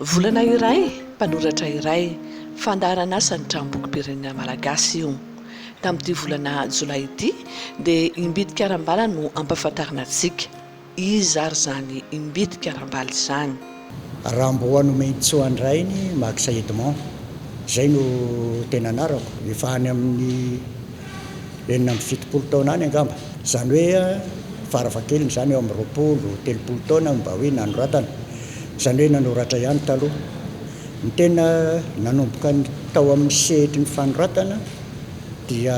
Volana iray, mpanoratra iray, fandaharan'asan'ny Tranombokim-pirenena malagasy io. Tamin'ity volana jolay ity dia Imbitika Arambala no ampahafantarina antsika. Iza ary izany Imbitika Arambala izany? Ramboa Nomenitsoandrainy Max Edmond, izay no tena anarako, efa any amin'ny. enina amby fitopolo taona any angamba, izany hoe farafahakeliny izany eo amin'ny roapolo, telopolo taona no mba hoe nanoratana, izany hoe nanoratra ihany taloha. Ny tena nanomboka tao amin'ny sehatry ny fanoratana dia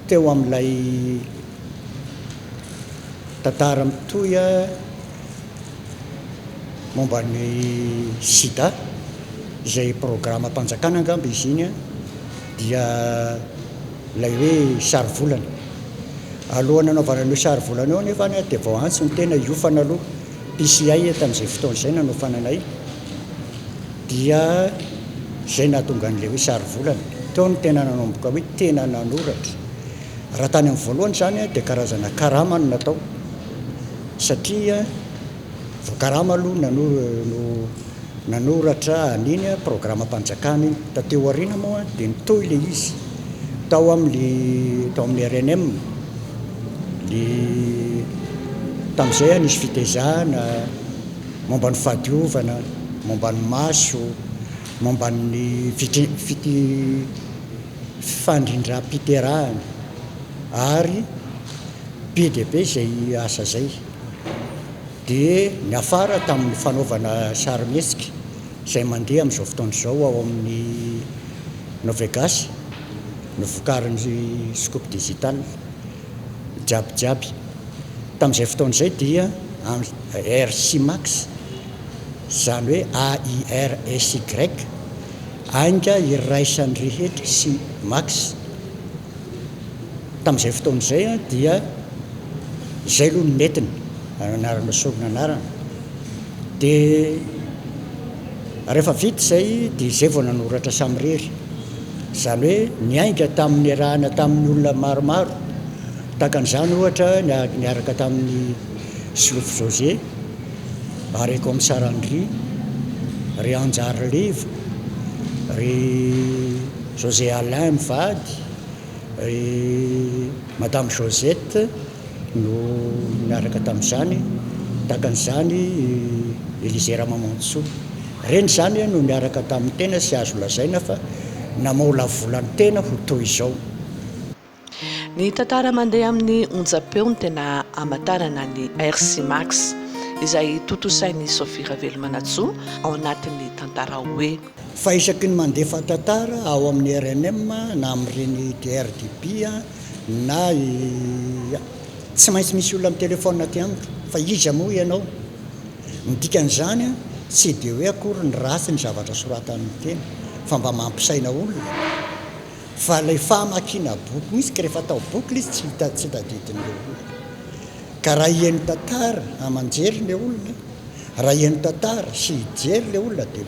teo amin'ilay tantara mitohy momba ny sida, izay programam-panjakana angamba izy iny. dia ilay hoe sarivolana. Alohan'ny hanaovana an'io sarivolana io anefa any dia vao antso ny tena hiofana aloha. PCI eto amin'izay fotoana izay nanofana anay dia izay nahatonga an'ilay hoe sarivolana. Teo no tena nanomboka hoe tena nanoratra. Raha tany amin'ny voalohany izany dia karazana karama no natao satria vao karama aloha no Nanoratra an'iny programam-panjakana iny. Taty aoriana moa dia nitohy ilay izy tao amin'ny tao amin'ny rnm. Ny tamin'izay nisy fitezahana momba ny fahadiovana, momba ny maso, momba ny fandrindram-piterahana ary be dia be izay asa izay. dia niafara tamin'ny fanaovana sarimihetsika izay mandeha amin'izao fotoana izao ao amin'ny Novegas, novokarin'ny Scoop Digital, Jabyjaby. Tamin'izay fotoana izay dia RCMax, izany hoe AIRSY, ainga iraisan'ny rehetra sy Max, Tamin'izay fotoana izay dia izay aloha no nety ny anarana sorona anarana. Dia rehefa vita izay dia izay vao nanoratra samirery. Izany hoe niainga tamin'ny niarahana tamin'ny olona maromaro. Tahaka an'izany ohatra niaraka tamin'ny Solofo José Ary Kaomisary Andry, ry Hanjary Levo, ry José Alain mivady, ry Madame Josette no niaraka tamin'izany, tahaka an'izany i Elisée Ramamonjisoa. Ireny izany no niaraka tamin'ny tena sy azo lazaina fa namaolavolan-tena ho toy izao. Ny tantara mandeha amin'ny onjam-peo no tena hamantarana ny RC Max, izay tontosain'i Sophie Ravelomanantsoa ao anatin'ny tantara hoe. Fa isaky ny mandefa tantara ao amin'ny rnm na amin'ireny DRDB na yy, tsy maintsy misy olona mi-telephone aty amiko fa iza moa ianao? Ny dikan'izany an, tsy dia hoe akory ny ratsy ny zavatra soratan'ny teny fa mba mampisaina olona. Fa ilay famakiana boky mihitsy ka rehefa atao boky ilay izy tsy hita tsy tadidin'ilay olona. Ka raha hihaino tantara aman-jery ilay olona, raha hihaino tantara sy hijery ilay olona dia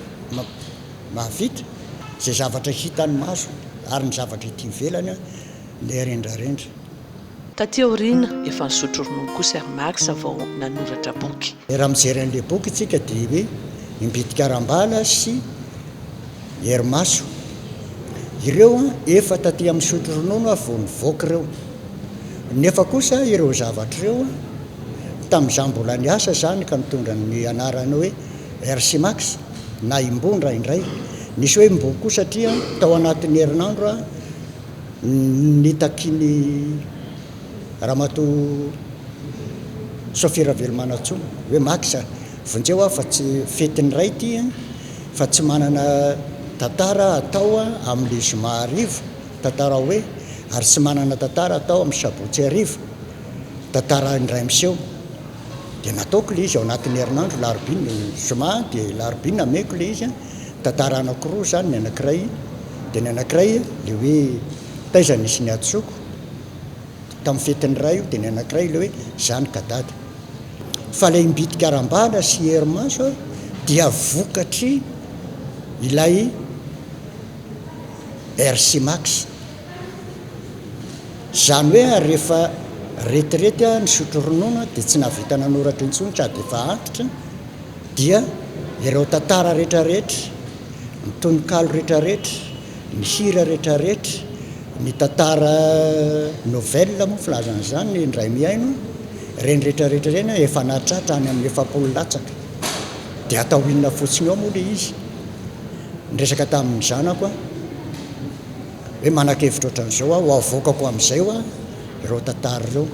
mahavita izay zavatra hitan'ny masony ary ny zavatra ety ivelany ilay rendrarendra. Lalao. Taty aoriana, efa nisotro ronono kosa i Armax vao nanoratra boky. Raha mijery an'ilay boky isika dia hoe Imbitikarambala sy Herimaso. Ireo efa taty amin'ny misotro ronono vao nivoaka ireo. Nefa kosa ireo zavatra ireo, tamin'izaho mbola niasa izany ka nitondra ny anarana hoe Hersimax na Imbo indraindray. Nisy hoe Imbokoa satria tao anatin'ny herinandro aho. Nitaky ny Ramatoa Sophie Ravelomanantsoa hoe Max a, vonjeo aho fa tsy fetin'ny Ray ity a, fa tsy manana tantara atao amin'ny zoma hariva, tantarao hoe, ary tsy manana tantara atao amin'ny sabotsy hariva, tantara indray miseho. Dia nataoko ilay izy ao anatin'ny herinandro, alarobia, zoma dia alarobia nameko ilay izy a. Tantara anankiroa izany, ny anankiray dia ny anankiray ilay hoe taiza nisy ny hadisoako tamin'ny fetin'ny ray io dia ny anankiray ilay hoe izany ka dada. Fa ilay mbitika arambana sy hery maso dia vokatry ilay RCMax. Izany hoe ary rehefa retirety aho nisotro ronono dia tsy nahavita nanoratra intsony ka dia efa antitra Dia ireo tantara rehetrarehetra, ny tononkalo rehetrarehetra, ny hira rehetrarehetra, ny tantara nouvelle moa filaza an'izany ny indray mihaino, ireny rehetrarehetra ireny an, efa nahatratra any amin'ny efapolo latsaka. Dia atao inona fotsiny ao moa ilay izy? Niresaka tamin'ny zanako aho hoe manakevitra ohatran'izao aho, ho avoakako amin'izay ho'a ireo tantara ireo.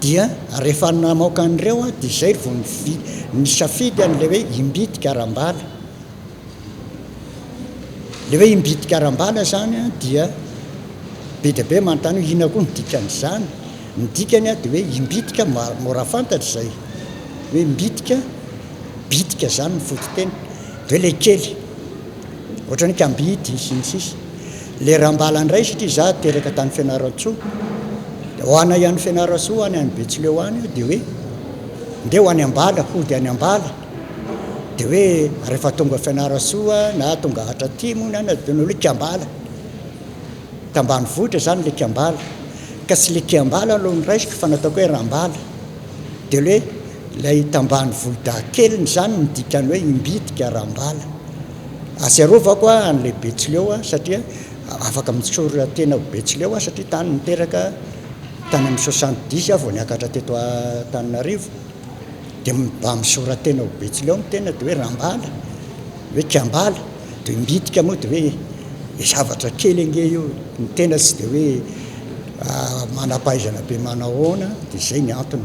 dia rehefa namaoka an'ireo aho dia izay vao nisafidy an'ilay hoe Imbitika Arambala. Ilay hoe Imbitika Arambala izany dia be dia be manontany hoe inona koa ny dikan'izany? Ny dikany dia hoe Imbitika mora fantatra izay hoe Imbitika, bitika izany ny fototeny, dia hoe ilay kely. ohatrany kambidy sy ny sisa le rambala indray satria za teraka tany fianarantsoa de ho anay any fianarantsoa ho any any betsileo any io de hoe ndeha ho any ambala hody any ambala de hoe rehefa tonga fianarantsoa na tonga atratimo na na de nolo kambala tambanivohitra zany le kambala ka tsy le kiambala aloha no raisiko fa nataoko hoe rambala de le Ilay tambany volodahy keliny izany no dikany hoe imbitika raha ambala. Atsiarovako aho an'ilay Betsileo aho satria afaka mitsory tena ho Betsileo aho satria tany niteraka tany amin'ny soixante dix aho vao niakatra teto Antananarivo dia mba misora-tena ho Betsileo ny tena dia hoe Rambala, hoe Kiambala, dia imbitika moa dia hoe zavatra kely ange io, ny tena tsy dia hoe manam-pahaizana be manao ahoana dia izay ny antony.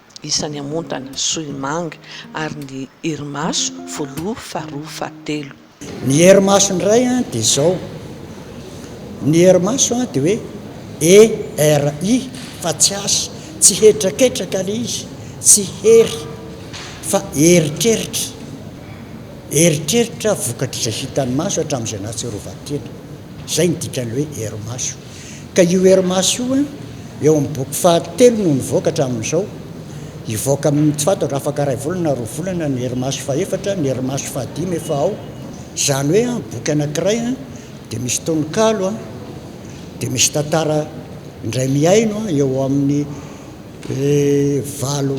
isan'ny amontana, sohimanga, ary ny herimaso, voaloha, faharoa, fahatelo. Ny herimaso indray dia izao, ny herimaso dia hoe ERI fa tsy H, tsy hetraketraka ilay izy, tsy hery fa eritreritra, eritreritra vokatr'izay hitan'ny maso hatramin'izay nahatsiarovan-tena, izay no dikan'ny hoe herimaso. Ka io hery maso io an, eo amin'ny boky fahatelo no nivoaka hatramin'izao. Hivoaka amin'ny, tsy fantatra, afaka iray volana na roa volana ny hery maso fahefatra, ny hery maso fahadimy efa ao. Izany hoe an, boky anankiray an, dia misy tononkalo an, dia misy tantara indray mihaino an, eo amin'ny valo,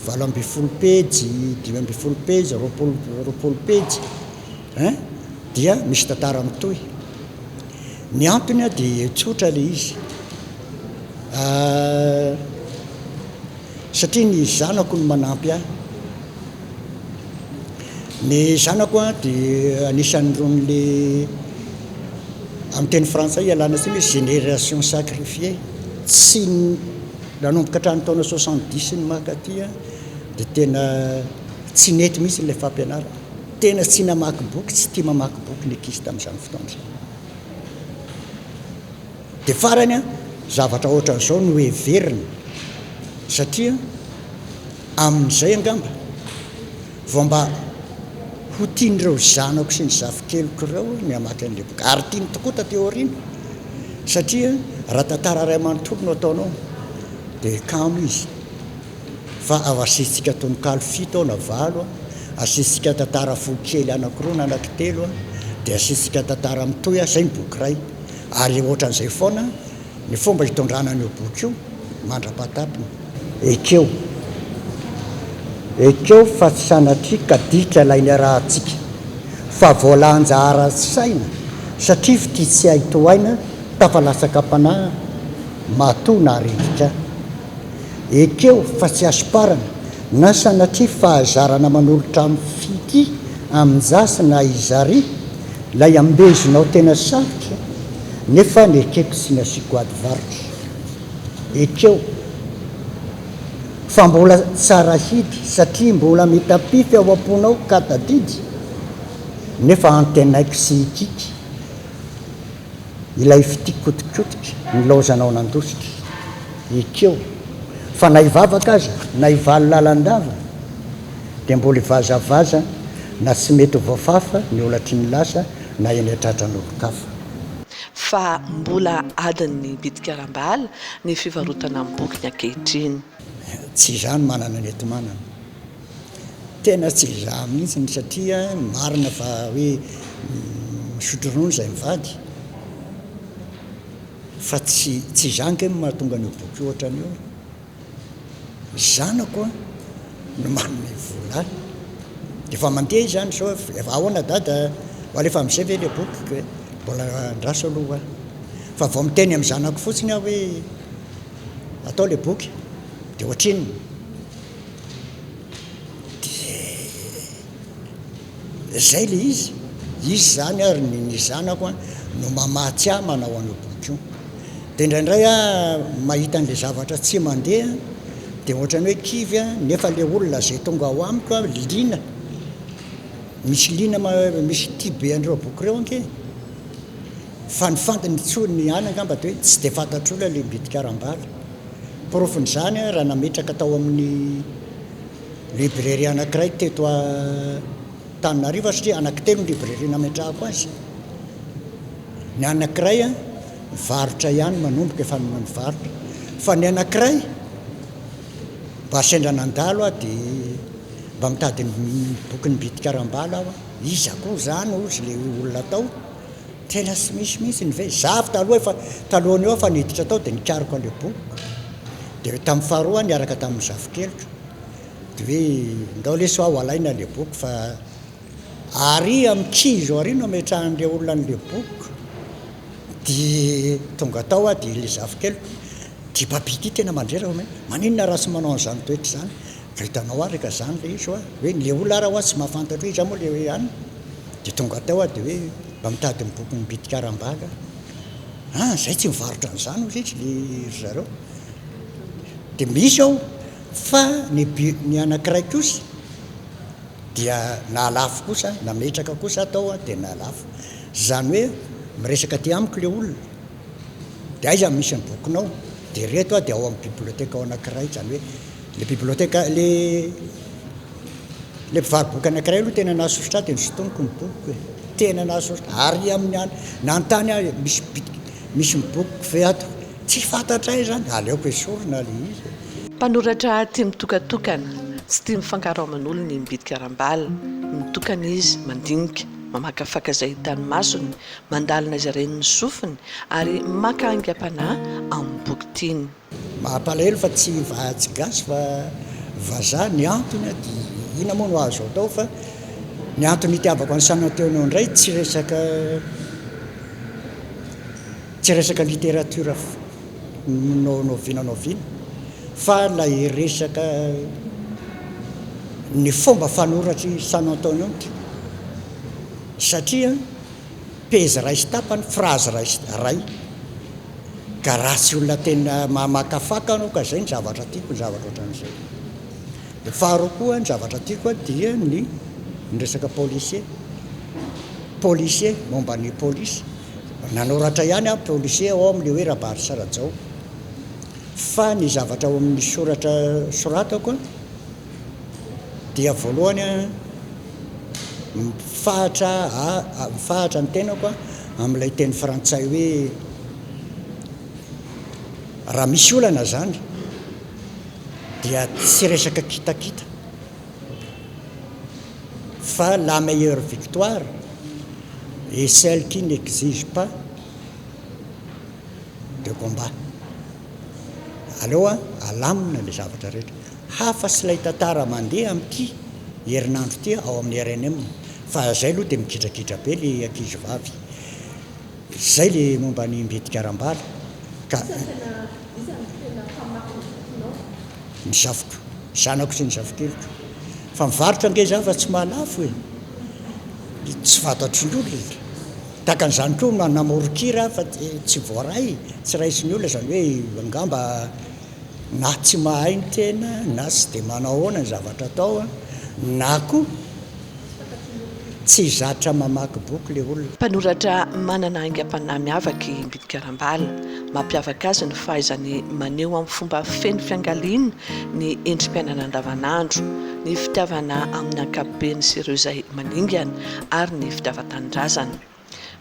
valo ambin'ny folo pejy, dimy ambin'ny folo pejy, roapolo, roapolo pejy. Hein? Dia misy tantara mitohy. Ny antony dia tsotra ilay izy. Satria ny zanako no manampy ahy. Ny zanako dia anisan'irony amin'ny teny frantsay ialana tsiny hoe génération sacrifiée. Tsy nanomboka hatramin'ny taona soixante dix sy ny mankaty dia tena tsy nety mihitsy ilay fampianarana. Tena tsy namaky boky, tsy tia mamaky boky ny ankizy tamin'izany fotoana izany. Dia farany an, zavatra ohatran'izao no heverina, satria amin'izay angamba vao mba ho tian'ireo zanako sy ny zafikeliko ireo ny hamaky an'ilay boky. Ary tiany tokoa taty aoriana, satria raha tantara iray manontolo no ataonao, dia kamo izy. fa ao asiantsika tononkalo fito ao na valo a, asiantsika tantara foko kely anankiroa na anankitelo a, dia asiantsika tantara mitohy a, zay ny boky iray. Ary ohatran'izay foana ny fomba hitondrana an'io boky io mandra-pahatapiny. Ekeo, ekeo fa tsy sanatria ka ditra ilay niarahantsika, fa voalanjaharan'ny saina satria fitia tsy hay tohaina tafalatsaka am-panahy matoa naharirika ahy. Ekeo fa tsy hasomparana na sanatria fahazarana manolotra amin'ny fity amin-jafy na izary ilay ambezinao tena sarotra nefa nekeko tsy nasiako ady varotra. Ekeo fa mbola tsara hidy satria mbola mitapify ao am-ponao ka tadidy nefa antenaiko tsy hikiky. Ilay fitia kotikotika nilaozanao nandositra. Ekeo fa na hivavaka aza na hivaly lalandava dia mbola hivazavaza na tsy mety ho voafafa ny olatry ny lasa na eny an-tratran'olon-kafa. Fa mbola adin'ny bitika ara-bala ny fivarotana ny bokiny ankehitriny. Tsy izany manana ny enti-manana. Tena tsy izaho mihitsy no satria marina fa hoe misotro ronono izay mivady fa tsy tsy izaho ange no mahatonga an'io boky io ohatran'io ny zanako no manome vola ahy dia efa mandeha izany sao efa ahoana dada ho alefa am'zay ve le boky kay mbola andraso aloha ho ahy fa vao miteny amin'ny zanako fotsiny aho hoe atao le boky dia ohatrinona Dia zay le izy, izy zany ary ny ny zanako an no mamatsy ahy manao an'io boky io, dia indraindray aho mahita an'le zavatra tsy mandeha an dia ohatrany hoe kivy an nefa le olona zay tonga ao amiko an liana, misy liana ma misy tia be an'ireo boky ireo ange, fandifandy ny tso ny ahy angamba dia hoe tsy dia fantatr'olona le mbitika ara-bala. Porofon'izany raha nametraka tao amin'ny librairie anankiray teto Antananarivo aho satria anaky telo ny librairie nametrahako azy. Ny anankiray mivarotra ihany, manomboka efa mivarotra, fa ny anankiray mba sendra nandalo aho dia mba mitady ny bokin'i Mbitika Rambala aho, iza koa izany hozy ilay olona tao? Tena tsy misy mihitsy ny vy. Za avy taloha efa talohan'io aho efa niditra tao dia nikariko an'ilay boky. Dia tamin'ny faharoa aho niaraka tamin'ny zafikeliko. Dia hoe ndao lesy ho alaina ilay boky fa àry amin'ny kivy eo àry no ametrahan'ilay olona an'ilay boky. Dia tonga tao aho dia ilay zafikeliko, ity babia ity tena mandrera hoe maninona raha tsy manao an'izany toetra izany. Ka hitanao àry ka izany ilay izy hoa hoe ilay olona ary ho'a tsy mahafantatra hoe iza moa ilay anona. Dia tonga tao aho dia hoe mba mitady ny bokin'ny bitika aram-bala aho. Ah izay tsy mivarotra an'izany hozy izy le ry zareo. Dia misy ao fa ny ny anankiray kosa dia nahalafo kosa aho, nametraka kosa aho tao dia nahalafo. Izany hoe miresaka aty amiko le olona. Dia aiza no misy ny bokinao? Dia ireto a, dia ao amin'ny biblioteka ao anankiray, izany hoe ilay biblioteka, ilay, ilay mpivaro-boky anankiray aloha tena nahasosotra ahy dia nosintoniko ny bokiko e! Tena nahasosotra, ary amin'ny an, nanontany aho hoe misy bi, misy ny bokiko ve ato? Tsy fantatray izany, aleoko esorina ilay izy e! Mpanoratra tia mitokatokana, tsy tia mifangaro aman'olona ny mbidy karambala, mitokana izy, mandinika, mamakafaka izay hitan'ny masony, Mandalina izy ireny ny sofiny ary maka aingam-panahy amin'ny boky tiany. Mampalahelo fa tsy vaha tsy gasy fa vazaha ny antony dia inona moa no azo atao fa ny antony itiavako an'i Sananteona indray tsy resaka tsy resaka littérature no no vina no vina fa ilay resaka ny fomba fanoratr'i Sananteona satria pejy iray sy tapany, phrase iray sy iray, ka raha tsy olona tena mamakafaka anao ka izay ny zavatra tiako, ny zavatra ohatran'izay. Dia faharoa koa ny zavatra tiako dia ny ny resaka policier, policier, momba ny polisy. Nanoratra ihany aho policier ao amin'ilay hoe Rabarisa Rajao, fa ny zavatra ao amin'ny soratra soratako a, dia voalohany a mifahatra a mifahatra ny tenako a amin'ilay teny frantsay hoe raha misy olana izany dia tsy resaka kitakita fa la meilleure victoire est celle qui n'exige pas de combat aleo a alamina le zavatra rehetra Hafa sy ilay tantara mandeha amin'ity herinandro ity ao amin'ny rnm fa izay aloha dia migidragidra be ilay ankizy vavy. Izay ilay momba an'i Mbitika Rambala ka. Iza tena, iza no tena mpamaky ny bokinao? Ny zafiko, zanako sy ny zafikeliko. Fa mivarotra ange za fa tsy mahalafo e! Tsy fantatry ny olona. Tahaka an'izany koa namoron-kira aho fa tsy voaray, tsy raisin'ny olona izany hoe angamba. Na tsy mahay ny tena na tsy dia manao ahoana ny zavatra atao na koa tsy zatra mamaky boky ilay olona. Mpanoratra manana aingam-panahy miavaka i Mbidy Karambala. Mampiavaka azy ny fahaizany maneho amin'ny fomba feno fiangaliana ny endri-piainana andavanandro, ny fitiavana amin'ny ankapobeny sy ireo izay maningana ary ny fitiavan-tanindrazana.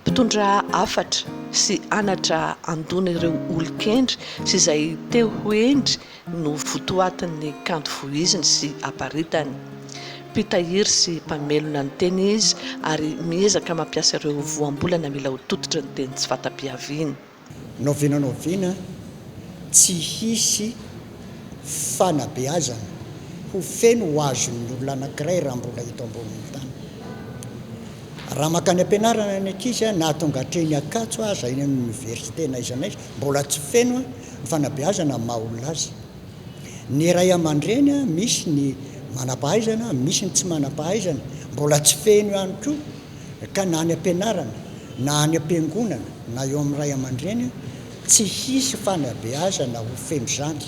Mpitondra hafatra sy anatra handona ireo olon-kendry sy izay te ho hendry no votoatin'ny kanto voiziny sy aparitany. Mpitahiry sy mpamelona ny teny izy ary miezaka mampiasa ireo voambolana mila ho tototry ny teny tsy fata-piaviany. Nao vina nao vina, tsy hisy fanabeazana ho feno ho azon'ny olona anankiray raha mbola eto ambonin'ny tany. Raha mankany am-pianarana ny ankizy, na tonga hatreny Ankatso aza, eny amin'ny oniversite na aiza na aiza, mbola tsy feno ny fanabeazana amin'ny maha-olona azy. Ny ray aman-dreny, misy ny manam-pahaizana, misy ny tsy manam-pahaizana, mbola tsy feno ihany koa. ka na any am-pianarana, na any am-piangonana, na eo amin'ny ray aman-dreny, tsy hisy fanabeazana ho feno izany.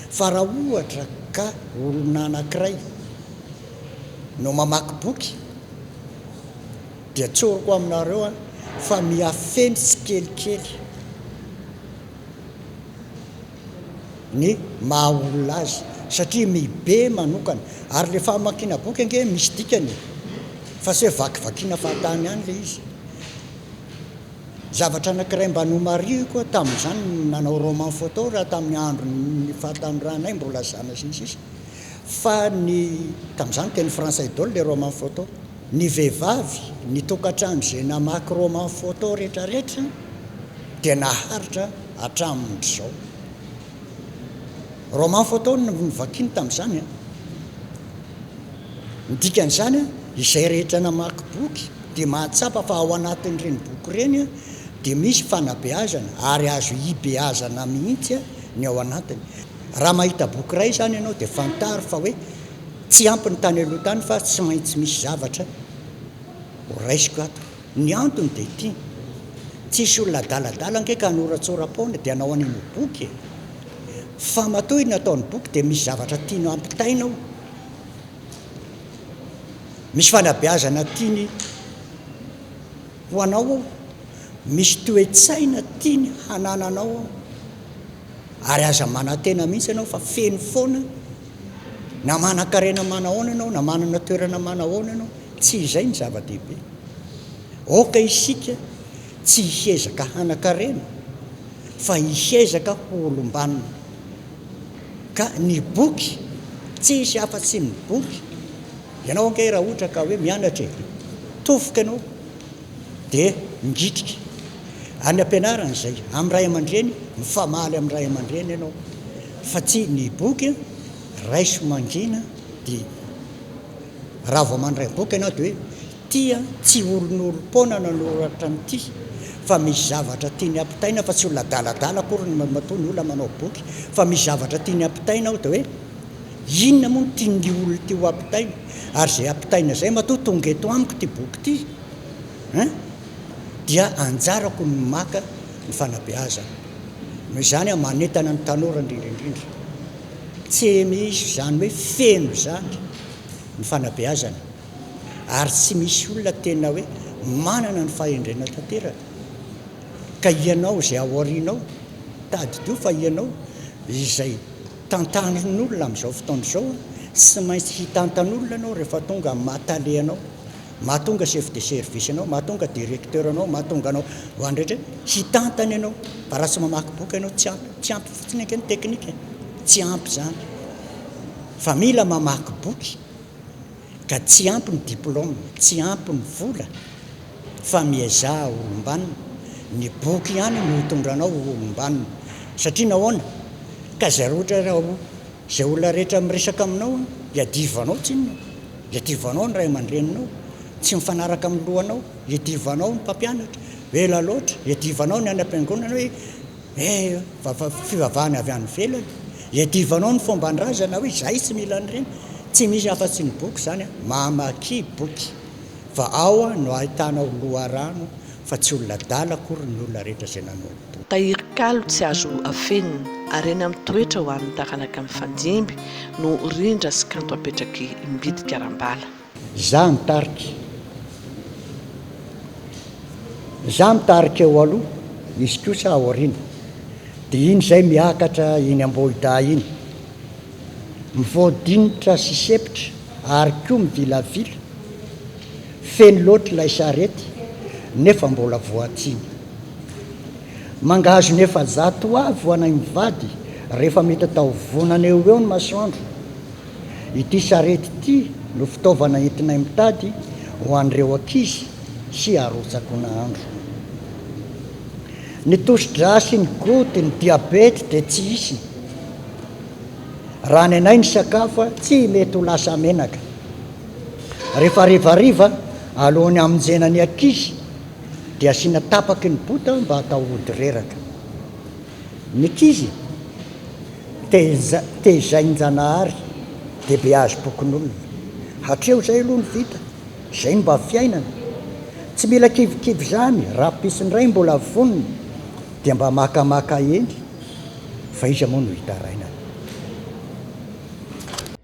Fa raha ohatra ka olona anankiray no mamaky boky, dia tsoriko aminareo fa mihafeno tsikelikely. ny maha olona azy satria mi be manokana ary le famakiana boky ange misy dikany e! fa se vakivakiana fahatany ihany le izy. Zavatra anakiray mba nomarihiko aho tamin'izany ny nanao roman photo raha tamin'ny andron'ny fahatanorànay mbola zana sy ny sisa fa ny tamin'izany teny frantsay daholo le roman photo. Ny vehivavy, ny tokantrano izay namaky roman photo retraretra dia naharitra hatramin'izao. Roman photo no novakiany tamin'izany an! Ny dikan'izany an, izay rehetra namaky boky dia mahatsapa fa ao anatin'ireny boky ireny an, dia misy fanabeazana ary azo hibeazana mihitsy ny ao anatiny. Raha mahita boky iray izany ianao dia fantaro fa hoe. Tsy ampy ny tany aloha tany fa tsy maintsy misy zavatra ho raisiko ato. Ny antony dia ity, tsisy olona adaladala ange ka hanoratsoram-poana dia hanao an'iny ho boky e! Fa matoa iny ataony boky dia misy zavatra tiany hampitaina ao, misy fanabeazana tiany ho anao ao, misy toe-tsaina tiany hanananao ao. Ary aza manantena mihitsy ianao fa feno foana. Na manan-karena manahoana ianao, na manana toerana manahoana ianao, tsy izay ny zava-dehibe. Aoka isika tsy hiezaka hanan-karena, fa hiezaka ho olom-banona. Ka ny boky, tsy hisy afa-tsy ny boky. Ianao ange raha ohatra ka hoe mianatra e, tofoka ianao dia mingitrika any am-pianarana izay, amin'ny ray aman-dreny, mifamaly amin'ny ray aman-dreny ianao. fa tsy ny boky, raiso mangina dia raha vao mandray boky ianao dia hoe tia tsy olonolom-poana nanoratra an'ity fa misy zavatra tiany ampitaina fa tsy olona adaladala akory ny matoa ny olona manao boky fa misy zavatra tiany ampitaina ao dia hoe inona moa no tian'ity olona ity ho ampitaina ary izay ampitaina izay matoa tonga eto amiko ity boky ity hein dia anjarako ny maka ny fanabeazana Noho izany aho manentana ny tanora indrindra indrindra, tsy misy izany hoe feno izany ny fanabeazana ary tsy misy olona tena hoe manana ny fahendrena tanteraka ka ianao izay ao aorianao tadidio fa ianao izay tantanin'olona amin'izao fotoana izao, tsy maintsy hitantan'olona ianao rehefa tonga amin'ny maha tale anao. mahatonga chef de service anao, mahatonga directeur anao, mahatonga anao ho an'ny rehetra hitantana ianao, fa raha tsy mamaky boky ianao tsy ampy, tsy ampy fotsiny ange ny teknika, tsy ampy izany fa mila mamaky boky ka tsy ampy ny diplôme, tsy ampy ny vola fa miezaha ho olom-banona, ny boky ihany no hitondra anao ho olom-banona satria nahoana ka zareo ohatra hoe raha ho Izay olona rehetra miresaka aminao iadivanao tsinona, iadivanao ny ray aman-dreninao tsy mifanaraka amin'ny lohanao, iadivanao ny mpampianatra hoe ela loatra, iadivanao ny any am-piangonana hoe he fivavahana avy any ivelany, iadivanao ny fomban-drazana hoe izahay tsy mila an'ireny, tsy misy afa-tsy ny boky izany an, mamaky boky fa ao no ahitanao loharano fa tsy olona adala akory ny olona rehetra izay nanolo. Tahiry kalo tsy azo afenina, harena mitoetra ho an'ny taranaka mifandimby no rindra sy kanto apetraky mbidy karambala. Za mitarika Za mitarika eo aloha, izy kosa ao aoriana, dia iny izay miakatra iny Ambohidahy iny, mivoadinitra sy sepitra ary koa mivilavila, Feno loatra ilay charette nefa mbola voatsiny. Mangahazo ny efajato ho avy ho anay mivady rehefa mety atao vonana eo ho eo ny masoandro. Ity charette ity no fitaovana entinay mitady ho an'ireo ankizy sy arotsako nahandro. Ny tosi-dra sy ny goty, ny diabety dia tsy hisy. Raha ny anay ny sakafo tsy mety ho lasa menaka. Rehefa harivariva, alohan'ny hamonjena ny ankizy, dia asiana tapaky ny bota mba hatao hody reraka. Ny ankizy, tehizain-janahary, dia beazy pokonolona. Hatreo izay aloha no vita, izay no mba fiainana. Tsy mila kivikivy izany, raha pisy indray mbola vonona, dia mba makamaka eny, fa iza moa no hitarainana.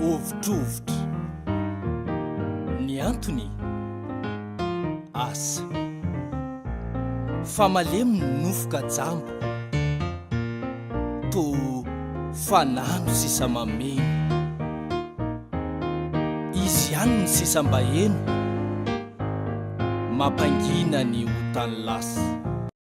Ovitrovitre ny antony asa Fa malemy ny nofo ka jamba Toa fanano sisa mameno Izy ihany ny sisa mba heno Mampangina ny otan'ny lasa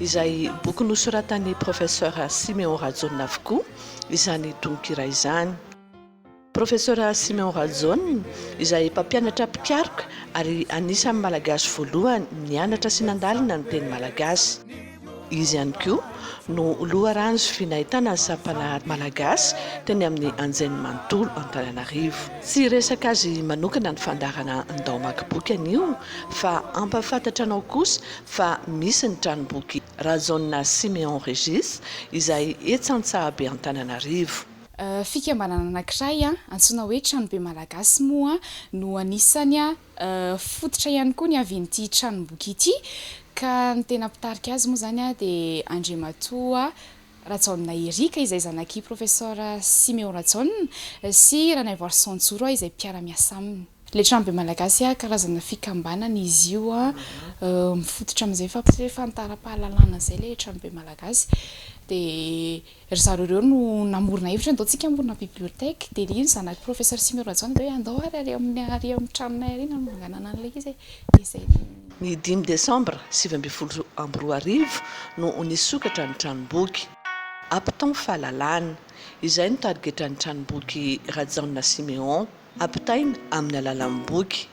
izay boky nosoratan'i Professeur Siméon Rajaonina avokoa izany tononkira izany. Professeur Siméon Rajaonina, izay mpampianatra mpikaroka ary anisan'ny Malagasy voalohany nianatra sy nandalina ny teny malagasy. Izy ihany koa no loharano sy vy nahitana ny sampanaha malagasy teny amin'ny anjeny manontolo Antananarivo. Tsy hiresaka azy manokana ny fandaharana ndao hamaky boky anio fa hampahafantatra anao kosa fa misy ny tranomboky Rajaonina Siméon Régis izay etsy Antsahabe Antananarivo. Fikambanana anankiray antsoina hoe Tranobe Malagasy moa no anisany fototra ihany koa niavian'ity tranomboky ity ka ny tena mpitarika azy moa izany dia Andriamatoa Rajaonina Eric izay zanak'i Professor Siméon Rajaonina sy Ranaivoarison Joro izay mpiara-miasa aminy. Letrambe Malagasy, karazana fikambanana izy io mifototra amin'izay fampisehoana fahantaram-pahalalana izay ilay Letrambe Malagasy. Dia ry zareo ireo no namorona hevitra hoe andao tsika hamorona bibliothèque. Dia hoy ny zanak'i Professor Siméon Rajaonina hoe andao ary ary amin'ny tranonay ary no hananganana an'ilay izy e. Dia izay no. Ny dimy desambra sivy ambin'ny folo amby roa arivo no nisokatra ny tranomboky. Apton Fahalalana. Izay no tarigetran'ny tranomboky Rajaona Siméon. Ampitaina amin'ny alalan'ny boky.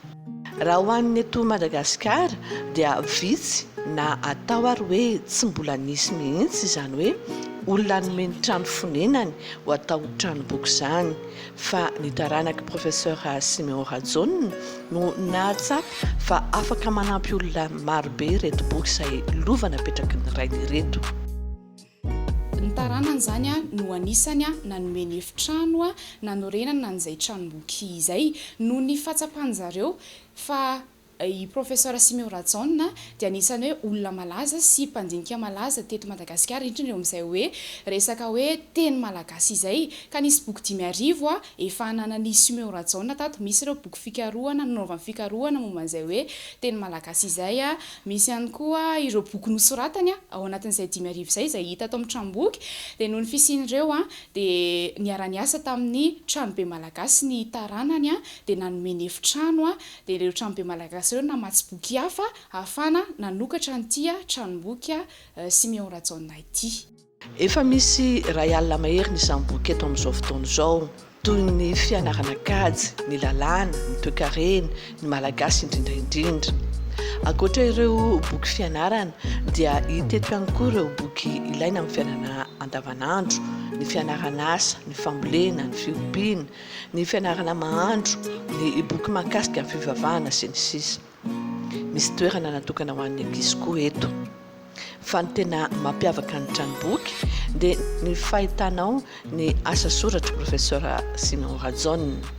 Raha ho an'ny eto Madagasikara dia vitsy na atao ary hoe tsy mbola nisy mihitsy izany hoe olona hanome ny trano fonenany ho atao tranomboky izany. fa ny taranak'i Professeur Siméon Rajaona no nahatsapa fa afaka manampy olona marobe ireto boky izay lova napetraky ny rainy ireto. Ny taranany izany no anisany nanome ny efitrano nanorenana an'izay tranomboky izay noho ny fahatsapan-dry zareo fa I Professor Simeo Rajaona dia anisan'ny hoe olona malaza sy mpandinika malaza teto Madagasikara indrindra eo amin'izay hoe resaka hoe teny malagasy izay ka nisy boky dimy arivo efa ananan'i Simeo Rajaona tato misy ireo boky fikarohana nanaovany fikarohana momba an'izay hoe teny malagasy izay misy ihany koa ireo boky nosoratany ao anatin'izay dimy arivo izay izay hita ato amin'ny tranomboky dia noho ny fisian'ireo dia niara-niasa tamin'ny tranobe malagasy ny taranany dia nanome ny efitrano dia ireo tranobe malagasy ireo namatsy boky hafa ahafahana nanokatra an'ity tranomboky Siméon Rajaonah ity. Efa misy iray alina mahery ny saim-boky eto amin'izao fotoana izao, toy ny fianarana kajy, ny lalàna, ny toekarena, ny malagasy indrindra indrindra. Ankoatra ireo boky fianarana dia hita eto ihany koa ireo boky ilaina amin'ny fiainana andavanandro, ny fianaran'asa, ny fambolena, ny fiompiana, ny fianarana mahandro, ny boky mahakasika ny fivavahana sy ny sisa Misy toerana natokana ho an'ny ankizy koa eto. Fa ny tena mampiavaka ny tranomboky dia ny fahitana ao ny asa soratr'i Profesora Simon Rajaonina.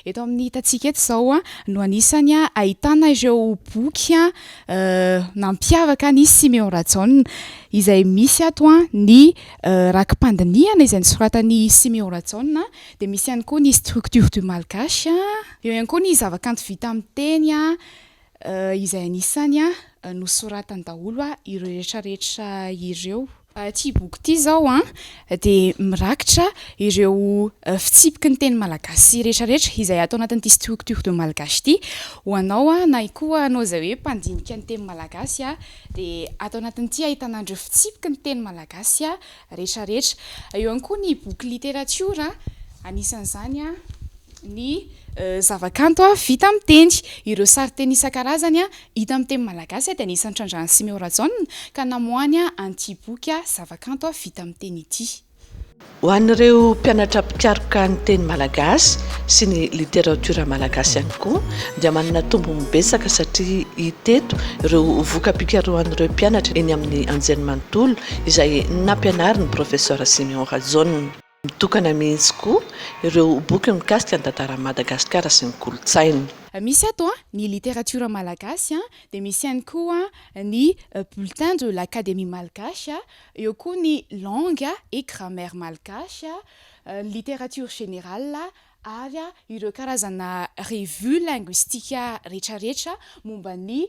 Eto amin'ny hitantsika eto izao no anisany ahitana ireo boky nampiavaka an'i Simeon Rajaonina izay misy ato ny Rakim-pandinihana izay nosoratan'i Siméon Rajaona dia misy ihany koa ny Structure du malgache, eo ihany koa ny zavakanto vita amin'ny teny izay anisany nosoratany daholo ireo rehetrarehetra ireo. Ity boky ity izao dia mirakitra ireo fitsipiky ny teny malagasy rehetrarehetra izay ato anatin'ity Structure du malgache ity ho anao na koa ianao izay hoe mpandinika ny teny malagasy. dia ato anatin'ity ahitana an'ireo fitsipiky ny teny malagasy rehetra rehetra. Eo ihany koa ny boky literatiora, anisan'izany ny zavakanto vita amin'ny teny. Ireo sarinteny isan-karazany hita amin'ny teny malagasy dia anisan'ny trandrahan'i Simeo Rajaona ka namoahany an'ity boky zavakanto vita amin'ny teny ity. Ho an'ireo mpianatra mpikaroka ny teny malagasy sy ny literatiora malagasy ihany koa dia manana tombony betsaka satria hita eto ireo voka-pikarohan'ireo mpianatra eny amin'ny anjery manontolo izay nampianarin'ny Professeur Siméon Rajaona. Mitokana mihitsy koa ireo boky mikasika ny tantaran'i Madagasikara sy ny kolontsainy. Misy ato ny literatiora malagasy dia misy ihany koa ny Bulletin de l'Académie malgache Eo koa ny langue et grammaire malgache, ny littérature générale ary ireo karazana revue linguistique retraretra momba ny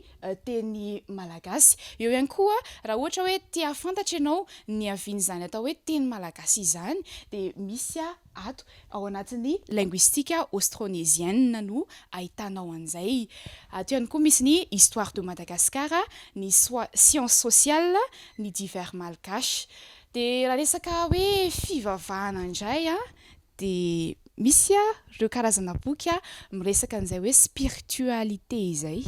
teny malagasy. Eo ihany koa raha ohatra hoe te hahafantatra ianao ny havian'izany atao hoe teny malagasy izany dia misy Ato, ao anatin'ny linguistique austronésienne no ahitanao an'izay. Ato ihany koa misy ny Histoire de Madagascar, ny Sciences sociales, ny Divers malgaches. Dia raha resaka hoe fivavahana indray dia misy ireo karazana boky miresaka an'izay hoe spiritualité izay.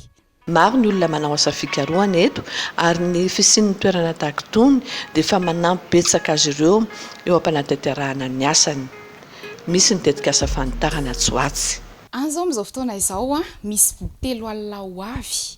Maro ny olona manao asa fikarohana eto ary ny fisian'ny toerana tahaka itony dia efa manampy betsaka azy ireo eo am-panatanterahana ny asany. Misy ny tetikasa fanitarana atsy ho atsy. Any izao amin'izao fotoana izao, misy boky telo alina ho avy.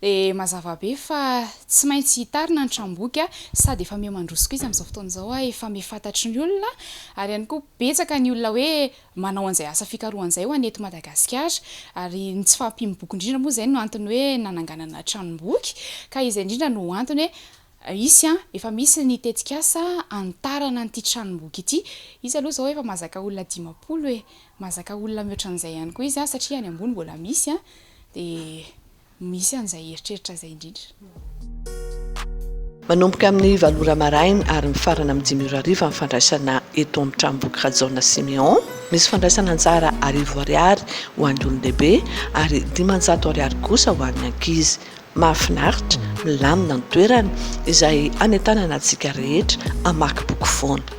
Dia mazava be fa tsy maintsy hitarina ny tranomboky sady efa miha mandroso koa izy amin'izao fotoana izao, efa miha fantatry ny olona ary ihany koa betsaka ny olona hoe manao an'izay asa fikarohany izay ho an'ny eto Madagasikara. Ary ny tsy fahampiam-boky indrindra moa izay no antony hoe nananganana tranom-boky, ka izay indrindra no antony hoe hisy, efa misy ny tetikasa hanitarana an'ity tranom-boky ity. Izy aloha izao efa mahazaka olona dimampolo e! Mahazaka olona mihoatra an'izay ihany koa izy, satria any ambony mbola misy, dia. Misy an'izay eritreritra izay indrindra. Manomboka amin'ny valo ora maraina ary mifarana amin'ny dimy ora hariva ny fandraisana eto amin'ny tranomboky Rajaona Siméon. Misy fandraisana anjara arivo ariary ho an'ny olon-dehibe ary dimanjato ariary kosa ho an'ny ankizy. Mahafinaritra, milamina ny toerana izay hanentanana antsika rehetra hamaky boky foana.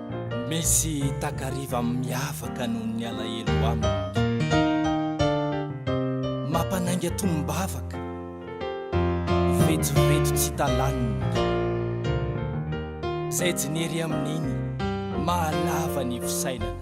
Misy takariva miavaka noho ny alahelo aminy. Mampanainga tonom-bavaka, vetsovetso tsy talaniny. Izay jinery amin'iny mahalava ny fisainana.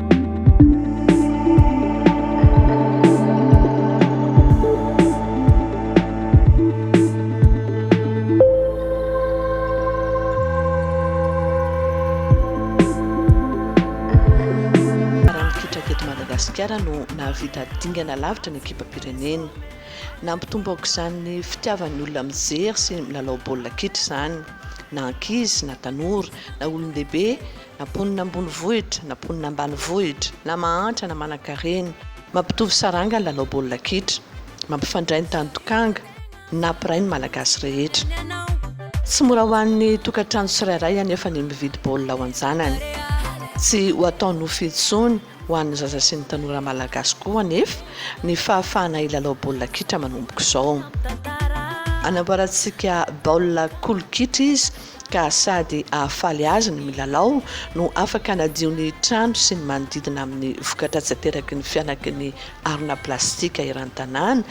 Madagasikara no nahavita dingana lavitra ny ekipam-pirenena. Nampitombo aoka izany ny fitiavan'ny olona mijery sy milalao baolina kitra izany, na ankizy na tanora na olon-dehibe. Na mponina ambonivohitra, na mponina ambanivohitra, na mahantra na manankarena, mampitovy saranga ny lalao baolina kitra. Mampifandray ny tany tokanga, na mpiray ny Malagasy rehetra. Tsy mora ho an'ny tokantrano tsirairay anefa ny mividy baolina ho an-janany. Tsy ho atao nofy intsony ho an'ny zaza sy ny tanora Malagasy koa anefa ny fahafahana hilalao baolina kitra manomboka izao. Anamboarantsika baolina kolo kitra izy ka sady hahafaly azy ny milalao no afaka hanadio ny trano sy ny manodidina amin'ny vokatra tsy ateraky ny fianaky ny harona plastika eran-tanàna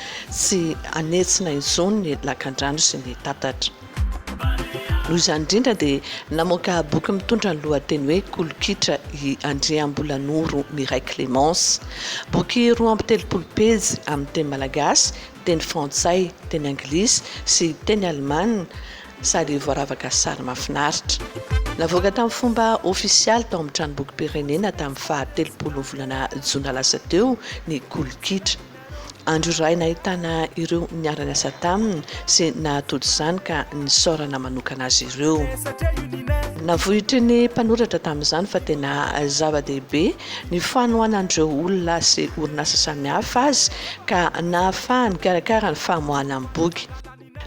sy hanetsina intsony ny lakandrano sy ny tatatra. Noho izany indrindra dia namoaka boky mitondra ny lohateny hoe Kolokitra i Andriambolanoro Miray Clémence. Boky roa amby telopolo pejy amin'ny teny malagasy, teny frantsay, teny anglisy sy teny alemana, sady voaravaka sary mahafinaritra. Navoaka tamin'ny fomba ofisialy tao amin'ny Tranombokim-pirenena tamin'ny faha telopolin'ny volana jona lasa teo ny Kolo Kitra. Andro iray nahitana ireo niara-niasa taminy sy nahatody izany ka nisaorana manokana azy ireo. Navoitry ny mpanoratra tamin'izany fa tena zava-dehibe ny fanohanan'ireo olona sy orinasa samihafa azy ka nahafahany nikarakara ny famoahana ny boky.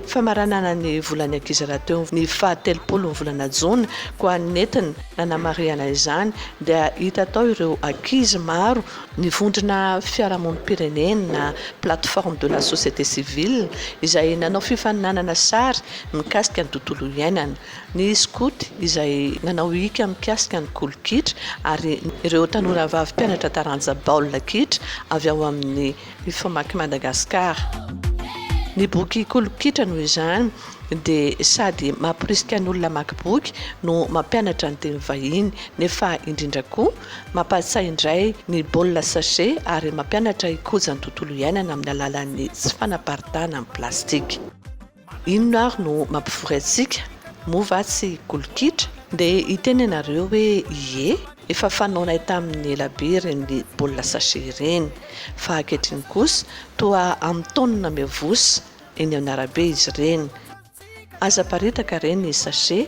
Famaranana ny volan'ny ankizy rahateo ny faha telopolo ny volana jona, koa nentina nanamarihana izany dia hita tao ireo ankizy maro nivondrona fiarahamonim-pirenena, plateforme de la société civile, izay nanao fifaninanana sary mikasika ny tontolo iainana, ny skoty izay nanao hika mikasika ny kolo kitra ary ireo tanora vavy mpianatra taranja baolina kitra avy ao amin'ny ny famaky Madagascar. Ny boky Kolo Kitra noho izany dia sady mampirisika ny olona hamaky boky no mampianatra ny teny vahiny nefa indrindra koa mampatsiahy indray ny baolina sachet ary mampianatra hikoja ny tontolo iainana amin'ny alalan'ny tsy fanaparitahana ny plastika. Inona ary no mampivory antsika? Moa va tsy golokitra? Ndeha hiteny ianareo hoe ie, efa fanaonay tamin'ny ela be ireny baolina sachet ireny, fa ankehitriny kosa toa amin'ny taonina miavosa eny amin'ny arabe izy ireny. Aza aparitaka re ny sachet